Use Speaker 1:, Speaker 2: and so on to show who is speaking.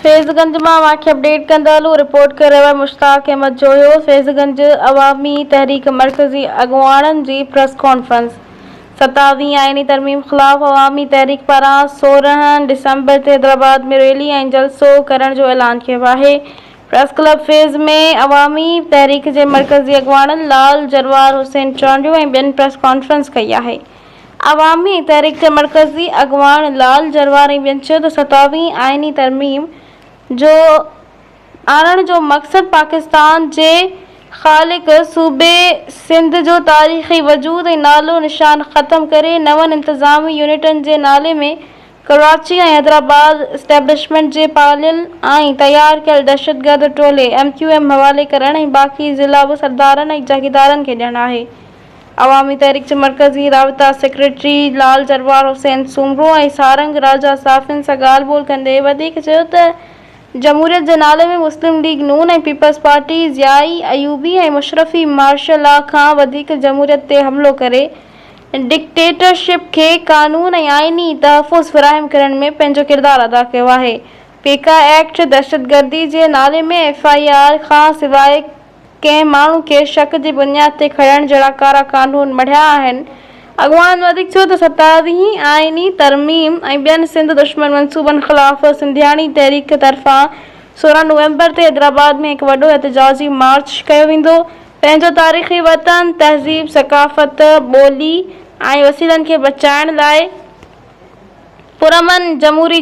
Speaker 1: فيض گنج مان اوهان کي اپڊيٽ ڪندا هلون رپورٽ ڪري رهيو آهي مشتاق احمد جويو فيض گنج عوامي تحريڪ مرڪزي اڳواڻن جي پريس ڪانفرنس ستاويهين آئيني ترميم خلاف عوامي تحريڪ پاران سورهن ڊسمبر تي حيدرآباد ۾ ريلي ۽ جلسو ڪرڻ جو اعلان ڪيو آهي پريس ڪلب فيض ۾ عوامي تحريڪ جي مرڪزي اڳواڻن لال جروار حسين چانڊيو ۽ ٻين پريس ڪانفرنس ڪئي آهي. عوامي تحريڪ جي مرڪزي اڳواڻ لال جرواري ٻين چيو ته ستاويهين آئيني ترميم جو آڻڻ جو مقصد پاڪستان جي خالق صوبي سنڌ جو تاريخي وجود ۽ نالو نشان ختم ڪري نون انتظامي يونٽن جي نالي ۾ ڪراچي ۽ حيدرآباد اسٽيبلشمينٽ جي پاليل ۽ تيار ڪيل دهشتگرد ٽولي ايم ڪيو ايم حوالي ڪرڻ ۽ باقي ضلعا به سردارن ۽ جاگيدارن کي ڏيڻ آهي. عوامي تحريڪ جي مرڪزي رابطا سيڪريٽري لعل جروار حسين سومرو ۽ سارنگ راجا صحافين سان ڳالهه ٻولهه ڪندي وڌيڪ چيو ته جمهوريت جي نالي ۾ مسلم ليگ نون ۽ peoples party Ziyai Ayubi ۽ مشرفي martial law کان وڌيڪ جمهوريت تي حملو ڪري ڊڪٽيٽرشپ کي قانون ۽ آئيني تحفظ فراهم ڪرڻ ۾ پنهنجو ڪردار ادا ڪيو آهي پيڪا ايڪٽ دهشتگردي جي نالي ۾ ايف آء آر کان سواء ڪنهن ماڻهو کي شڪ جي بنياد تي کڻڻ جهڙا ڪارا قانون مڙهيا آهن. اڳواڻن وڌيڪ چيو ته ستارهين آئيني ترميم ۽ ٻين سنڌ دشمن منصوبن خلاف سنڌياڻي تحريڪ طرفان سورهن نومبر تي حيدرآباد ۾ هڪ وڏو احتجاجي مارچ ڪيو ويندو، پنهنجو تاريخي وطن، تهذيب، ثقافت، ٻولي ۽ وسيلن کي بچائڻ لاء پرامن جمهوري.